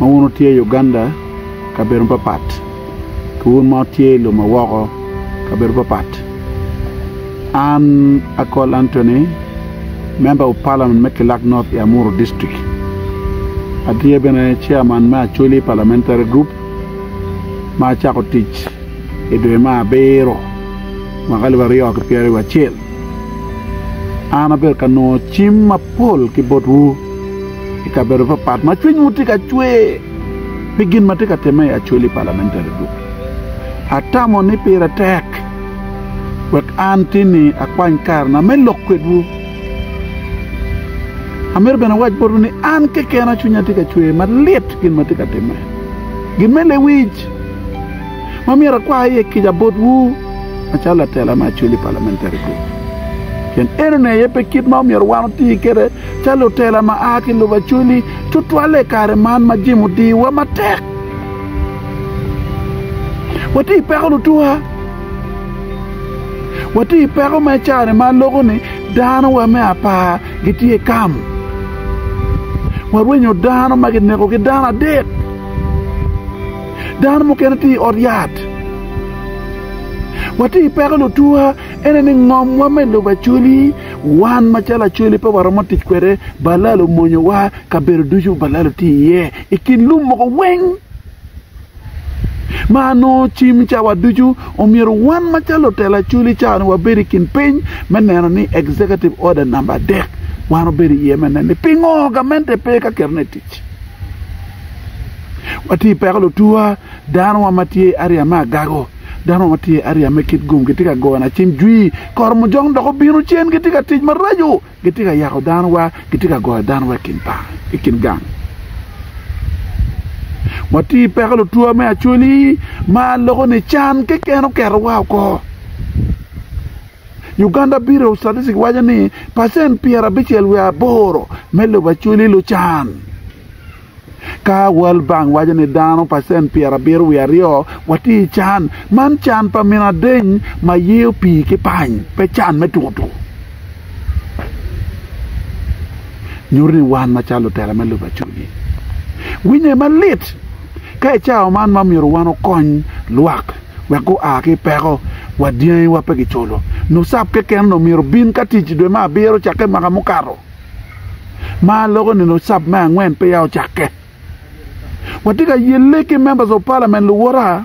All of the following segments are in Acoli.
ma wun wutye i Uganda kabedo mapapat ki wun ma wutye i lobo ma woko kabedo mapapat. An Akol Anthony, member of parliament me Kilak North i Amuru district. Atye bene chairman me Acholi parliamentary group ma acako tic i dwe me abiro mwaka alip aryo ki pyera wiye acel. An abedo ka nongo cim mapol ki botwu. I kabedo papat ma cwinywu tye ka cwer pi gin ma tye ka timme i Acholi Parliamentary Group, atamo ni pire tek wek an tinni akwany karena me lok kwedwu. Amito bene awac botwu ni an kekena cwinya tye ka cwer malit gin ma tye ka timme. Gin me lewic ma myero akwa iye kica botwu macalo latela me Acholi Parliamentary Group pien enoni aye pe kit ma omyero wan oti kwede Ca lutela ma a ki lubacweli, tutwalle i kare man ma jemo odiyowa matek, watye i peko lutuka. Watye i peko ma i caa-ni ma aloko ni danowa me apar gitye i kam. Warwenyo dano ma kineko ki dano adek. Dano mukene tye i ot yat. Watye i peko lutuka, ene ni ngomwa me lubacweli Wan macalo Acholi pe waromo tic kwede, balal omonyowa, kabedo ducu balal tye iye i kin lum mogo weng ma nongo cim cawa ducu. Omyero wan macalo lutela Acholi cawa-ni wabed i kin piny me neno ni Executive Order namba adek wan wabedo iye me neno ni pingo gamente pe ka ketone i tic. Watye i peko lutuwa, danowa ma tye ariya me agago. Dano ma tye ariya me kit gum gitye ka goyo nacim jwi, koro mujong dok obino cen, gitye ka tic maraco, gitye ka yako dano wa, gitye ka goyo dano wa i kin par, i kin gang. Watye i peko lutwa me Acholi ma loko ni can keken oketowa oko. Uganda Bureau of Statistics waco ni pacent pyerabicel wiye aboro me lobo Acholi lucan. Ka World Bank waco ni dano pacent pyerabiro wiye aryo watye i can, man can pa min adeny ma yeyo pii ki pany, pe can me tuko tuko. Nyuto ni wan macalo lutela me lub acwiny, winye malit ka i cawa man ma myero wan okony lwak wek gua ki i peko wa dyangiwa pe giculo. NUSAP keken omyero obin ka tic i dwe me abiro cakke mwaka mukato. ma loko nino cab me angwen peya ocakke. Watye ka yelle ki members of parliament luwota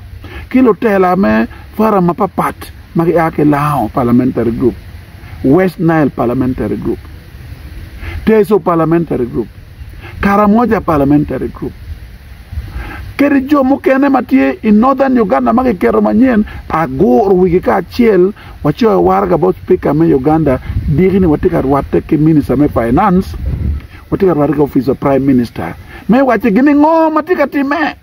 ki lutela me forum mapapat ma gia ki Lao parliamentary group, West Nile parliamentary group, Teso parliamentary group, Karamoja parliamentary group kede jo mukene ma tye i Northern Uganda ma kiketo manyen agur wigi kacel Wacoyo waraga bot Spika me Uganda diki ni watye ka rwatte ki Minista me Finance, watye ka rwatte ki opic pa Prime Minister me wacce gin ni ngo ma tye ka timme.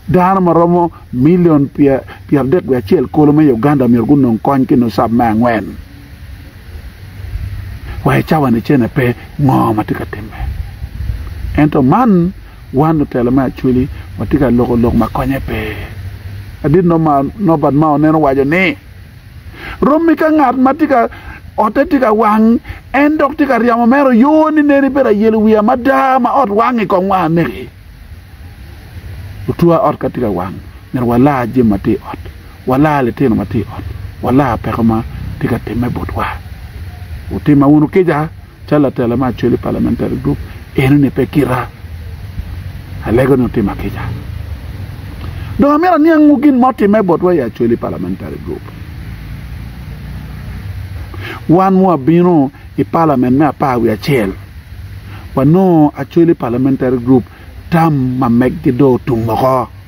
Dano ma romo milion pyeradek wiye acel kulu me Uganda myero gunong kony ki nusab me angwen. Wa i cawani cene pe ngo ma tye ka timme. Ento man Wan lutela me Acholi watye ka loko lok ma konye pe. Adit Norbert Mao nen owaco ni, Rommi ka ngat ma tye ka otte tye ka wang, en dok tye ka ryemo mere oyo ni nen ibedo ayelo wiya mada ma ot wangi kong wang aneki. Otwa ot ka tye ka wang, myero walar jami ma tye i ot, walar litino ma tye i ot, walar peko ma tye ka timme botwa. Wutimme wunu kica. Calo latela me Acholi Parliamentary Group, enoni pe kita. Alego ni otima kica. Dong amito aniangwu gin ma otimme botwa i Acholi Parliamentary Group. Wan mu abino i Parliament me apar wi acel, wanongo Acholi Parliamentary Group tam ma meggi do otum oko.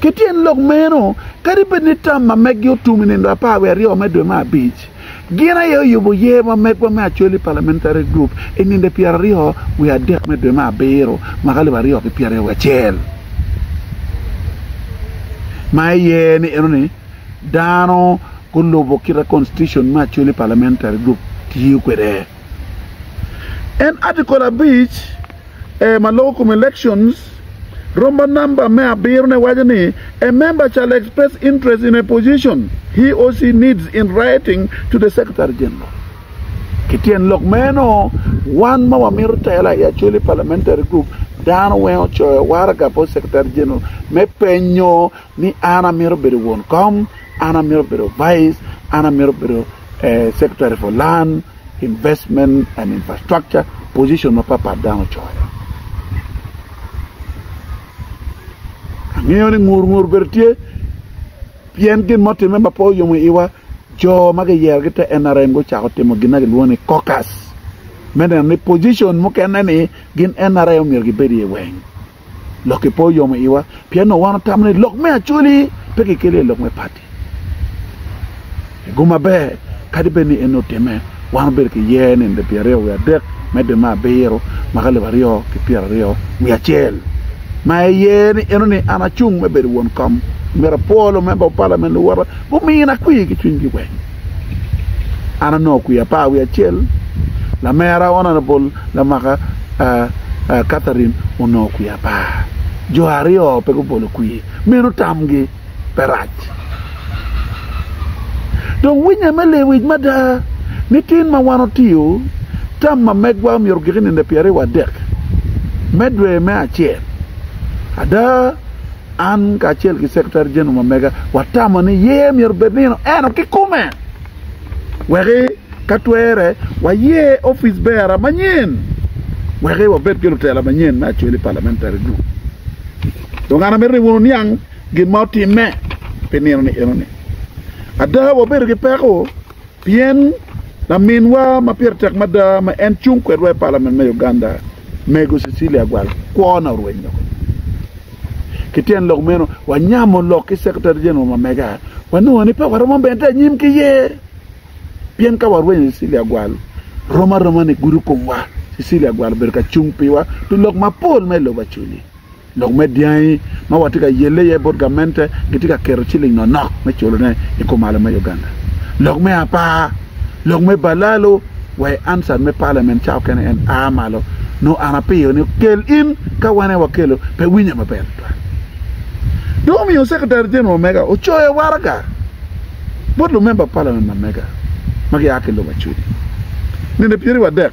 Ki tyen lok meno, kadi bed ni tam ma meggi otum i nino apar wiye aryo me dwe me abic, gin aye oyubo yer ma megwa me Acholi Parliamentary Group i nino pyera aryo wiye adek me dwe me abiro mwaka alip aryo ki pyera aryo wiye acel, ma iye ni eno ni dano gulubo kita Constitution me Acholi Parliamentary Group tiyo kwede. En Article abic. ee ma loko kom elections romba number me abiro ne waco ni a member shall express interest in a position he or she needs in writing to the secretary general ki tyen lok meno wan ma wamito tela i Acholi parliamentary group dano weng ocoyo waraga bot secretary general me penyo ni an amito bedo won kom an amito bedo vice an amito bedo secretary for land Investment and infrastructure, position mapat pat dano ocoyo. Angeyo ni ngur ngur bedo tye pien gin mo timme ma pe oyomo iwa jo ma giyero ki te NRM gucako timo gin ma gilwongo ni caucus me neno ni position mukene ni gin NRM myero gibed iye weng. Lokki pe oyomo iwa pien onongo wan watamo ni lok me Acholi pe kikelo iye lok me pati. I gum maber, kadi bed ni en onongo otimme, wan wabedo ki yer ni nde pyeraryo wiye adek medde me abiro ma ka lobo aryo ki pyeraryo wiye acel ma en yer ni eno ni an acung me bedo won kom. Omyero apwo lumemba pa Palament luwota gumina kwir ki cwinygi weng. an onongo kwia apar wiye acel lamera honourable Lamak Catherine onongo kwia apar jo aryo pe gubolo kwir meno tamgi pe rac dong winya me lewic mada ni tin ma wan otiyo tam ma megwa myero ogik i nino pyeraryo wa dek me dwe me acel ada. An kacel ki Secretary General ma mega watamo ni yer myero obed nino eno kikume weki ka twere wayer ofice bearer manyen weki wabed ki lutela manyen me Acholi Parliamentary Group. Dong an amito ni wun wuniang gin ma otimme pi nino ni enoni. Ada wabedo ki peko Pien laminwa ma pire tek mada ma en cung kwedwa i palamen me Uganda, Mego Cecilia Agwal, kwona orweny loko. Ki tyen lok meno, wanyamo lok ki Secretary General Mamega, wanongo ni pe waromo medde anyim ki ye. Pien ka warwenyo Cecilia Agwal, rom aroma ni gudo komwa. Cecilia Agwal obedo ka cung piwa pi lok mapol ma i lobo acel-li. Lok me dyangi ma watye ka yelle iye bot gamente gitye ka keto ciling nonok me culone i kumalo me Uganda. Lok me apar, Lok me balalo wa i ansat me palamen cawa kene en a malo nongo an apiyo ni kel in ka wan aye wakelo pe winye maber tutwal. Dong omiyo Secretary General mega ocoyo waraga bot lumemba palamen ma mega ma gia ki lubacudi nende pyeriwadek.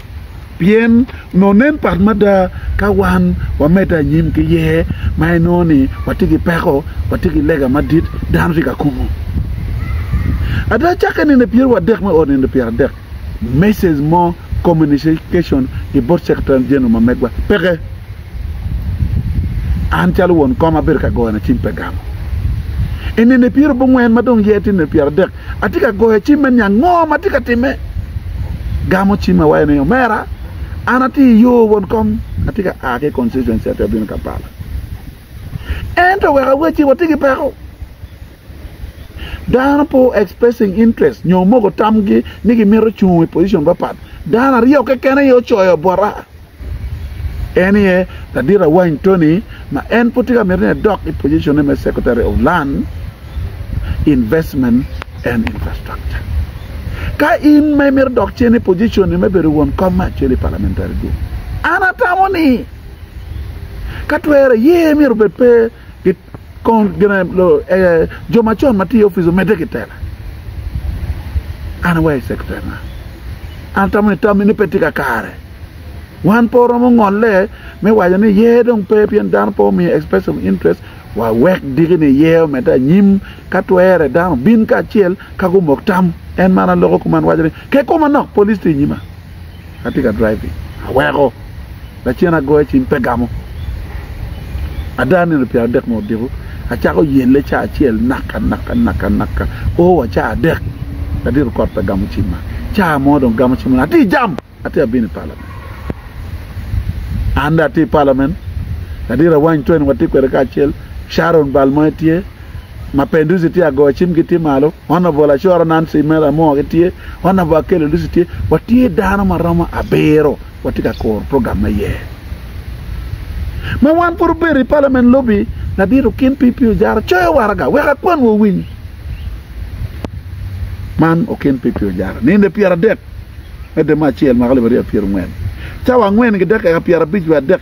Pien nongo nen pat mada ka wan wamedde anyim ki yer ma inongo ni watye ki peko, watye ki lega madit, dano tye ka kumo. Ada, cakke nino pyerwu adek me ot nindo pyeradek, message mo, communication, i bot Secretary General ma megwa, peke. An calo won kom abedo ka goyone cim pe gamo. I nino pyerabongwen ma dong yer tye nino pyeradek, Atye ka goyo cim me niang ngo ma atye ka timme. Gamo cim awaco ni, Omera, an atye i yo won kom, atye ka a ki i constituency ati abino Kampala. Ento wek awecci, watye ki peko. Dano pe expressing interest nyo omoko tamgi ni gimito cung i position papat. Dano aryo keken aye ocoyo bota. En aye ladit awany Tony ma en pud tye ka mito ni edok i pojicone me Secretary of Land, Investment and Infrastructure. Ka in ma imito dok cen i pojiconi me bedo won kom me acel i Parliamentary Group, an atamo ni ka twere ye myero obed pe Kong gin aye jo macon ma tye i opic omedde ki tela. An awaco i secretary na, an atamo ni tammi ni pe tye kakare. Wan pe oromo ngolle me waco ni ye dong pe pien dano pe omiyo express of interest wa wek diki ni ye omedde anyim ka twere dano bin kacel ka gumok tam. En man an loko kuma an waco ni ke koma nok police tye inyima. atye ka driving aweko lacen agoyo cim pe gamo ada nino pyera adek ma odiko acako yelle ca acel naka naka naka naka o wa ca adek ladit okot pe gamo cimma ca mo dong gamo cim atye i jam atye ka bino i palament an dong atye i palament ladit awany tweni watye kwede kacel Sharon bal mogo tye ma pe Lucy tye agoyo cim gi tye malo honorable Lacoro Nancy mere amoo gi tye honorable Akello Lucy tye watye dano ma romo abiro watye ka kuro program me yer ma wan pud obedo i parliament lobi ladit okin PP ojara coyo waraga wek akwan wa owiny man okin PP ojara ninde pyera dek me dema acel mako libaria pyera ngwen cawa ngwen gi dek eka pyera bic wa dek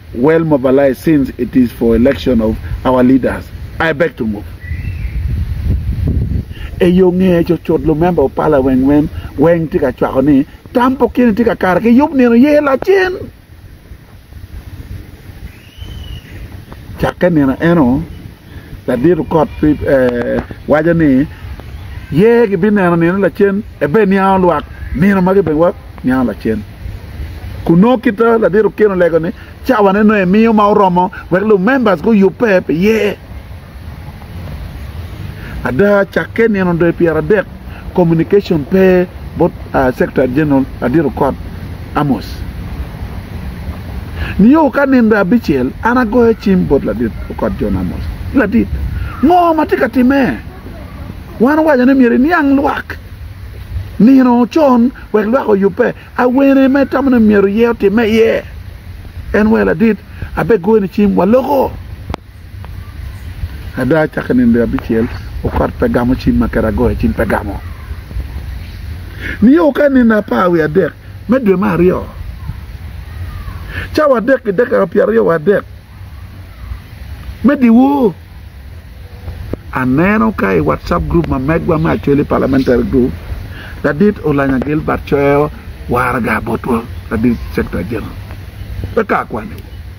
well mobilized since it is for election of our leaders I beg to move eyo ngeye cutcut lumember of parliament weng weng tye ka cwako ni tam pa okene tye ka kare ki yub nino ye lacen cakke nino eno Ladit okot waco ni, Ye gibineno nino lacen, ebe niango lwak nino magi bene wa niango lacen. Kun nongo kit ma ladit okin olego ni cawa ne nongo emiyo ma oromo wek lu members guyubbe pi ye. Ada cakke nino doyo pyera adek communication pe bot Secretary General Adiro Kot Amos. Nio ka nino abicel an agoyo cim bot Ladit Okot John Amos, Ladit, ngo ma tye ka timme? Wan owaco ni myero iniang lwak nino con wek lwak oyubbe. Awene ma itamo ni myero iye otimme iye? En wee Ladit, abegoyoni cim, waloko. Ada acakki nino abicel okot pe gamo cim ma kera agoyo cim pe gamo. Nio ka nino apar wiye adek me dwe me aryo cawa adek ki dakika pyeraryo wa adek me dyewor aneno ka i WhatsApp group ma megwa me Acholi Parliamentary Group ladit Olanya Gilbert coyo waraga botwa ladit Secretary General pe ka akwaniwa.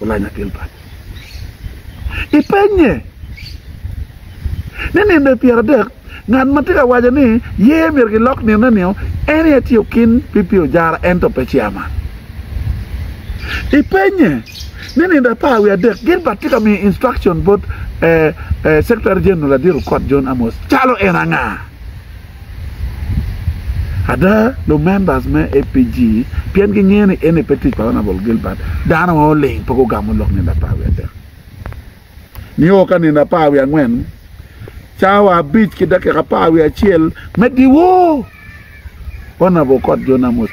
Olanya akel kany. Ipenye ni nino pyera adek ngat ma tye ka waco ni yer myero gilok nino nio en aye tye okin pi pi ojara ento pe chairman. Ipenye ni nino apar wiye adek Gilbert tye ka miyo instruction bot Secretary General Adiro Kot John Amos calo en anga. Ada, lumembers me APG pien gingeyo ni eni pe tic pa Honourable Gilbert, dano ma oling pe gugamo lok nino apar wiye adek. Nio ka nino apar wiye angwen, cawa abic ki dakika apar wiye acel me diwo, Honourable Okot Jon Amos,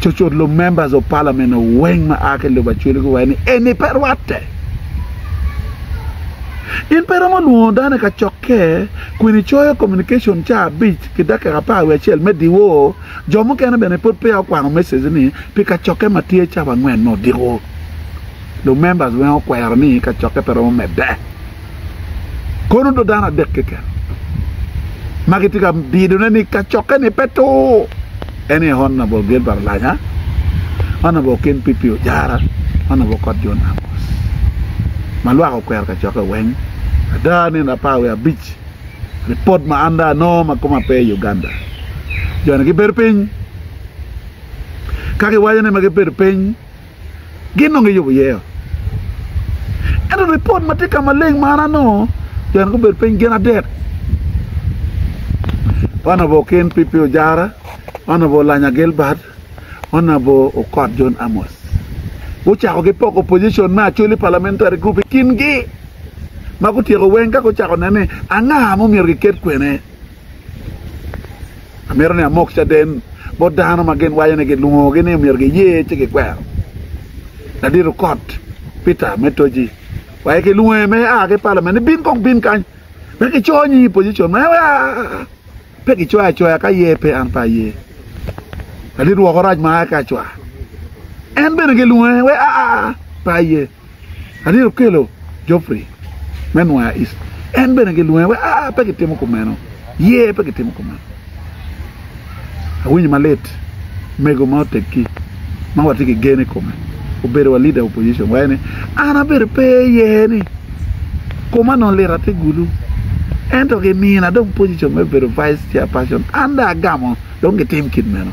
Cucut lub members of parliament weng ma aa ki lub acwele guwaco ni eni pe rwatte. In pe romo lwongo dano i kacokke kun icoyo communication ca abic ki dakika apar wiye acel me diwo. Jo mukene bene pud peya okwano message ni pi kacokke ma tye cabo angwen me odiko. Lub members weng okwero ni kacokke pe romo medde. Kono do dano adek keken ma gitye ka bidone ni kacokke-ni pe tur en aye Honabol Gilbert Olanya, Honabol Ken Pipi Ojara, Honabol Kot John Amos ma lwak okwero kacokke weng. Ada nino apar wiye abic lipod ma an dong anongo ma koma pe i Uganda, jo-ni gibedo piny ka giwaco ni ma gibedo piny gin dong giyubo iye ot. Ento ripot ma tye ka maleng ma an anongo jo eni gubedo piny gin adek. Wan obo Ken Pipi Ojara, wan obo Lanya Gilbert, wan obo Okot John Amos. Gucako gipoko position me Acholi Parliamentary Group i kingi ma gutyeko weng ka gucako neno ni anga ma omyero giket kwene. Amito ni amok caden bot dano ma gin waco ni gilwongogi ni myero giye ci gikwero. Ladito kot Peter me Toji waye kilwonge me a ki palament ni bin kong bin kany wek kiconyi i position ma en wek a pe gicoya acoya ka ye pe an pe aye. Ladit woko rac ma a ki acwa en bene gilwonge wek a pe aye. Adit okelo Geoffrey me Nwaya East, en bene gilwonge wek aa, pe gitimo kumeno, ye pe gitimo kumeno. Awinyo malit mego ma oteggi ma watye ki gen i kome obedo wa leader opposition waye ni an abedo pe aye ni koma onongo lit ati gulu ento gimina dong position me bedo vice chairperson an dong agamo dong gitim kit meno.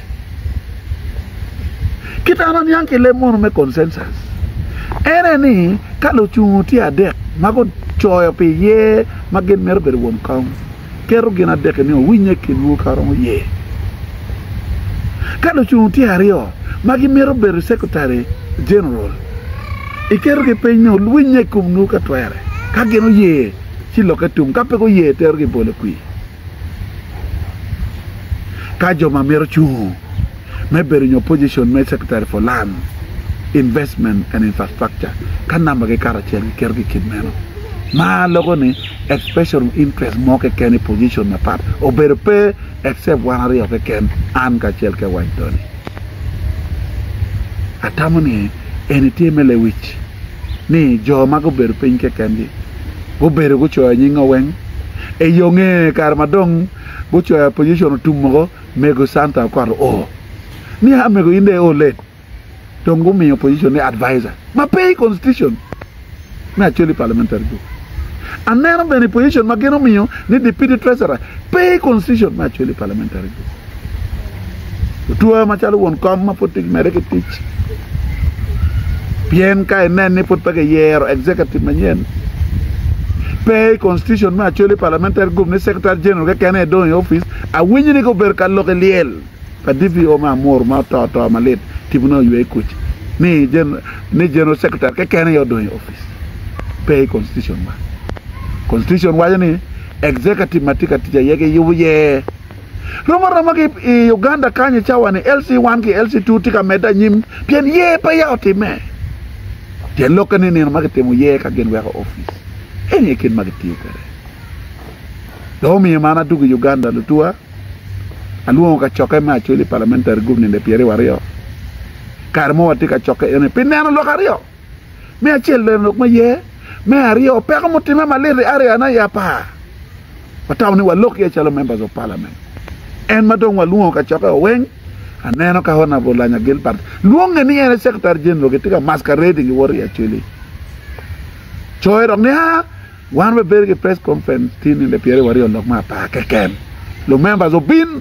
Kit an aniang ki leb mono me consensus ene ni ka lucungu tye adek ma gucoyo pi ye ma gin mito bedo won kom, keto gin adek-ki ni owinye i kinwu ka romo ye. Ka lucungu tye aryo ma gimito bedo Secretary General, iketogi piny ni owinye i komnwu ka twere. Ka gin oye, ci lokke tung, ka pe guye, iterogi i bolo kwir. ka jo ma mito cungo me bedo nyo pojicon me Secretary for Land, Investment and Infrastructure ka nambagi kato acel giketogi i kin meno. Ma loko ni expression of interest mo keken i pojicon mapat obedo pe except wan aryo keken, an kacel ki Awany Tony. Atamo ni eni tye me lewic. ni jo ma gubedo piny kekengi gubedo gucoyo nyinga weng i yo nge kare ma dong gucoyo opposition otum woko mego Santa Okot oo ni a mego in dong i o late dong gumiyo opposition ni advisor ma pe i constitution me Acholi parliamentary group aneno bene i position ma gin omiyo ni deputy treasurer pe i constitution me Acholi parliamentary group. Otwaa macalo won kom ma pud tye ka medde ki tic pien ka inen ni pud pe kiyero executive manyen, pe i constitution me Acholi parliamentary group ni secretary general keken aye dong i opic. Awinyo ni gubedo ka lok i lyel pa DPO me Amuru ma oto to malit tipo ne oywe kuc ni general secretary keken aye odong i opic. Pe i constitution man. Constitution waco ni executive ma tye ka tic aye kiyubo iye. Rom aroma ki i Uganda kany i cawa-ni, LC one ki LC two tye ka medde anyim pien yer pe ya otimme. Tyen lokke ni nino ma kitimo yer ka gin weko opic eni aye kit ma gitiyo kwede. Dong omiyo man adwogo i Uganda lutuwa, alwongo kacokke me Acholi Parliamentary Group ninde pyeraryo aryo. Kare mo watye ka cokke eni pi neno lok aryo. Me acel bene lok ma ye. Me aryo, peko mutimme malit i area na i apar. Watamo ni walok iye calo Members of Parliament. En ma dong walwongo kacokke oweng, aneno ka Honourable Lanya Gilbert lwonge ni en e Secretary General gitye ka masquerading ki wot i Acholi. Coe dok ni, aa, Wan wabedo ki press conference tin nino pyera wa ryo lok me apar keken. Lu members obin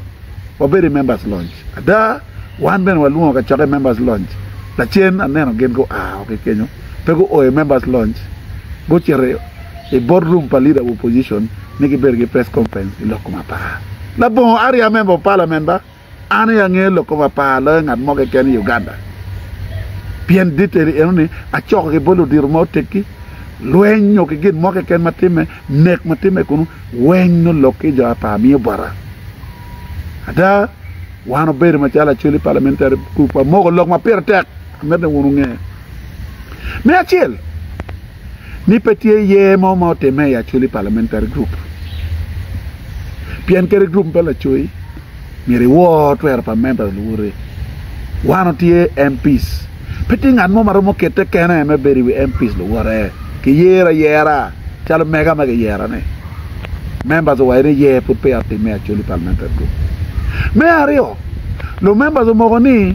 wabedo i members lounge. Ada, wan bene walwongo kacokke i members lounge. Lacen aneno gin gua o ki kenyo, pe guo i members lounge, gucito i bot room pa leader of opposition ni gibedo ki press conference i lok kom apar. Labongo, are ya member of parliament ba? An aye angeyo lok kome apar loyo ngat mo keken i Uganda pien diteri eno ni acoko ki bot ludito ma oteggi. Lweny nyo ki gin mo keken ma timme, nek ma timme kunu, weng nongo lok ki jo apar miyo bota. Ada, wan obedo macalo lacoli Parliamentary Group wamoko lok ma pire tek, amito ni wun wunge. Me acel, ni pe tye yer mo ma otimme i Acholi Parliamentary Group pien kadi group me lacoyi myero iwor twero pa member luwote. Wan otye MPs, pe tye ngat mo ma romo kete kene me bedo i wi MPs luwote. Kiyero ayera calo mega ma kiyerone. Members owaco ni yer pud peya otimme i Acholi Parliamentary Group. Me aryo, lumembers omoko ni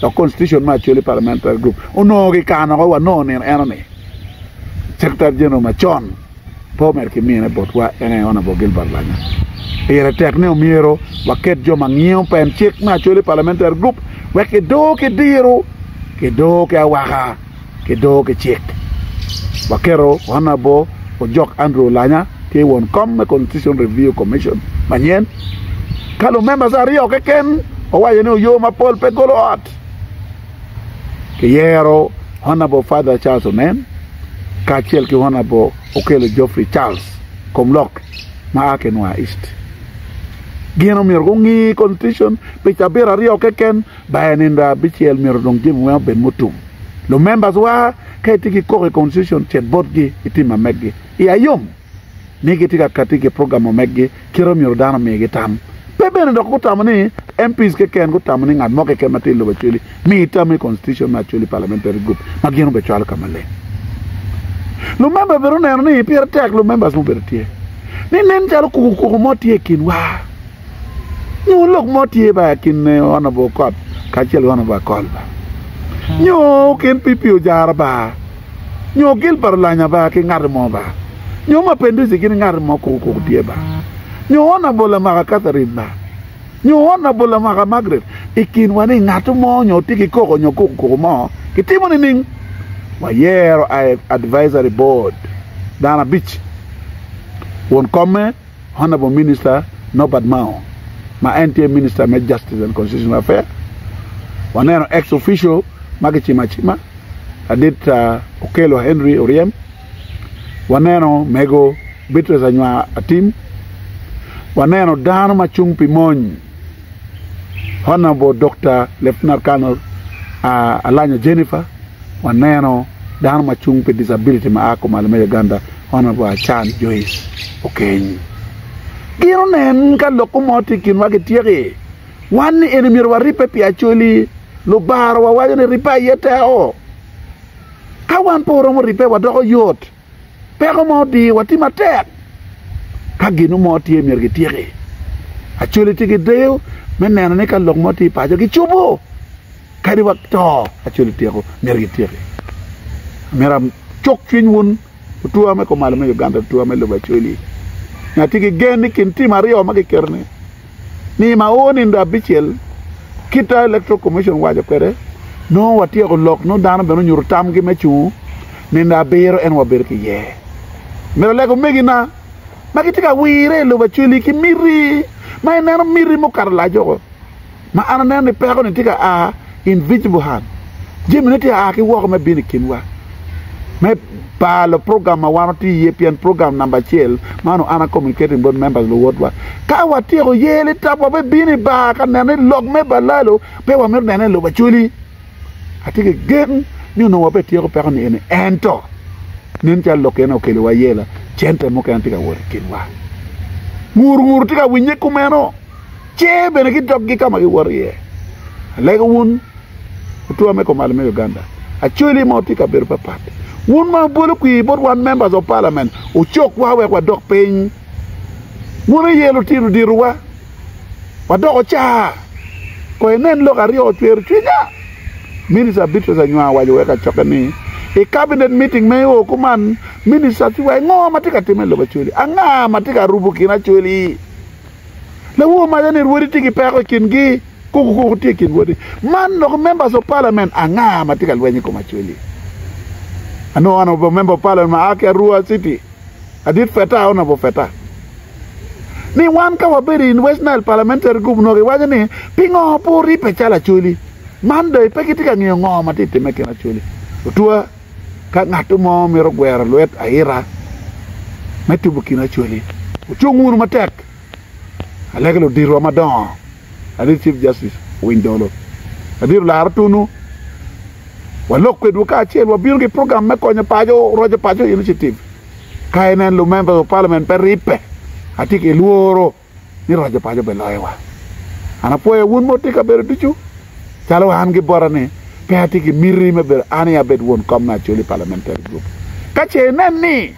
dok constitution me Acholi Parliamentary Group onongo kikano woko wa nongo nino eno ni Secretary General macon pe omedo ki mine botwa en aye Honourable Gilbert Lanya. Pire tek ni omyero waket jo ma ngiyo pen cik me Acholi Parliamentary Group wek kidoo ki diro, kidoo ki awaka. ki doo ki cik. Waketo Honourable Ojok Andrew Olanya tye won kom me Constitution Review Commission manyen ka lumembers aryo keken owaco ni oyo mapol pe golo ot. Kiyero Honourable Father Charles Onen kacel ki Honourable Okello Geoffrey Charles Komlok ma a ki Nwa East. Gin omyero gungi Constitution pi cabit aryo keken By nindo abicel myero dong jami weng obed mutum. Lu members wa ka itye ki koko i constitution cet bot gi i tim ameg gi i ayom ni gi tye ka kati ki program omeg gi kit omyero dano omi gi tam pe bene dok gu tamo ni MPs keken gu tamo ni ngat mo keken ma tye i lobo actually mi i tam i constitution ma actually parliamentary group ma gin obe cwalo ka maleng. Lu member bene oneno ni pire tek lu members mubedo tye ni nen calo kuku kuku mo tye i kin wa. Nyo lok mo tye ba kin Honourable Okot kacel ki Honourable Akol ba. Nyo kin PP Ojara ba. Nyo Gilbert Olanya ba ki ngat mo ba. Nyo Mapinduzi gin ngat mo kuku kuku tye ba. Nyo Honourable Amaka Catherine ba. Nyo Honourable Amaka Margaret i kinwa ni ngat mo nyo tye ki koko nyo kuku kuku mo kitimo nining? Wayero advisory board dano abic won kome. Honourable Minister Norbert Mao ma en tye Minister me Justice and Constitutional Affairs, waneno ex officio ma kicimo acima ladit Okello Henry Oryem, waneno Mego Beatrice Anywar Atim, waneno dano ma cung pi mony, Honorable Dokta Lieutenant Colonel Alanya Jennifer, waneno dano ma cung pi disability ma a kumalo me Uganda Honorable Achan Joice Okenyi. Gin onen ka lok ko mo tye i kinwa gityeki. Wan ni eni myero waribbe pi Acholi. Lubara wawaco ni ribbe aye teko. Ka wan pe waromo ribbe wadoko yot. peko mo odiyo wa tye matek ka gin mo tye myero gi tyeki acoli tye ki deyo me neno ni ka lok mo tye paco gi cubo kadi wa to acoli tyeko myero gi tyeki myero cuk cwiny wun otwa me kumalo me Uganda otwa me lobo acoli myero tye ki gen ni kin tim aryo ma gi keto ni ni ma o nindo abicel kita electoral commission owaco kwede nongo watyeko lok nongo dano bene onyuto tamgi me cungo nindo abiro ento wabedo ki yer myero oleg omegi na ma gitye ka wire ilobo acweli ki miti ma ineno miti mukato laco ma an aneno ni peko ni tye ka a invisible hand jamine tye aa ki woko me bino i kinwa me balo program ma wan watye iye pien program namba acel man oana communicating board members luwotwa ka watyeko ye li tap wa bibino i bar ka neno ni lok me balalo pe wamito neno i lobo acoli atye ki gen ni onongo wabe tyeko peko ni eni ento nen calo lok ene okelo wa yela cente mukene tye ka wot i kinwa ngur ngur tye ka winye kumeno ce bene gidokgi ka ma giwoto iye. Alego wun otwa me komal me Uganda, Acholi ma wutye i kabedo papat, wun ma wubolo kwir bot wan Members of Parliament wucokwa wek wadok piny. Wun aye lutino ditowa, wadoko ca. Kono inen lok aryo ocwero cwinya. Minister Beatrice Anywar owaco wek acokke ni, I Cabinet meeting ma i oo kuman, Ministers giwaco ngo ma tye ka timme i lobo Acholi? Anga ma tye ka rubo kin Acholi? Lawu omaco ni rwodi tye ki peko i kingi, koko koko tye i kin rwodi. Man loko members of parliament anga ma tye ka lweny i kom Acweli? Anu honorable member of parliament ma a ki Arua City, Adit Feta, honorable Feta. Ni wan ka wabedo in West Nile parliamentary group noko iwaco ni pingo pe oribbe calo Acweli? Man dong pe kitye ka ngiyo ngo ma tye timme kin Acweli? Otwa. ka ngat mo mito gwero lwet aita me tubo kin Acholi, wucung wunu matek aleka luditwa madongo adit Chief Justice Owiny Dolo, Ladit Olaro Otunu, walok kwedwu kacel wabino ki program me konyo paco, roco paco initiative ka inen lu members of parliament pe ribbe atye ki lworo. ni raco paco bene loyowa. An apwoya wun ma wutye i kabedo ducu, calo wa an gi bota ni pe atye ki miti me bedo an aye abed won kom me Acholi Parliamentary Group. Ka ce inen ni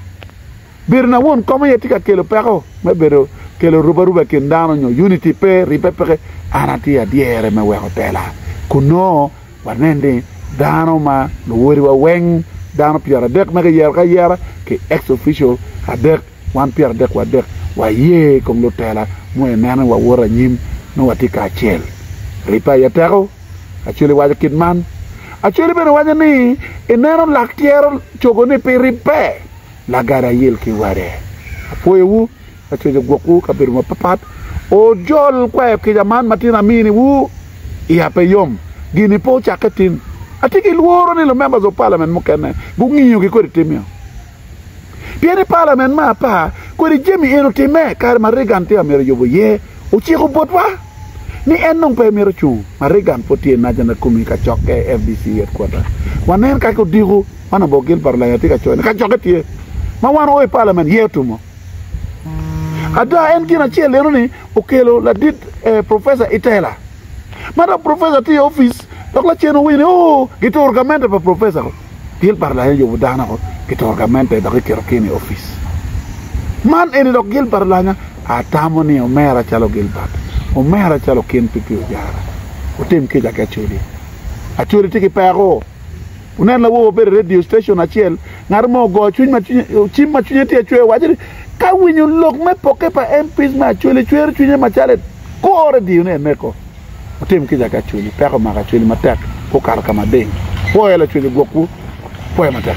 bedo na won kom aye tye ka kelo peko me bedo kelo rubaruba i kin dano nyo unity pe, ribbe peke, an atye adyere me weko tela kunoo wanen ni dano ma luwodiwa weng, dano pyeradek ma kiyero ki ayera ki ex official adek, wan pyeradek wadek waye i kom lutela ma ineno ni wawoto anyim nongo watye kacel. Ribbe aye teko, Acholi waco kit man. Acholi bene waco ni ineno lak tyero cogo ni pi ribbe, Lagada ayil ki wade. Apwoyowu. Acweco gwokwu i kabedo mapatpat. Ojol kwayo kica man matino aminiwu i ape yom. Gini pe ocakke tin. Atye ki lworo ni lumembers of parliament mukene gungiyogi kodi tim eno. Pien ni parliament me apar kodi jami eno timme kare ma Reagan tye amyero yubo iye ociko botwa ni en dong pe mito cung ma Reagan pud tye i National Kumi kacokke, FDC headquarter. Wanen kaki odiko man Obok Gilbert Olanya tye ka coyo ni kacokke tye ma wan oo i parliament ye otumo. Ada, en gin acel eno-ni okelo ladit Professor Itela. Ma dok Professor tye i opic, dok lacen owinyo ni, Oo, gituro gamente pa Professor-ro. Gilbert Lyon oyubo dano-ro, gituro gamente dok giketo Ken i opic. Man eni dok Gilbert Lyon, atamo ni omera calo Gilbert, omera calo Ken Pipi Ojara. Wutim kica ki Acholi. Acholi tye ki peko. Wunen lawogo obedo i redio citecon acel, ngat mo ogoyo cwiny ma cwinye, cim ma cwinye tye acwer, waco ni, Ka winyo lok me pokke pa MPs me Acholi cwero cwinya macalo en, kur ediyone iye meko. Wutim kica ki Acholi, peko omako Acholi matek, gukato ka mading. Pwoyo lacwec ogwokwu. Pwoyo matek.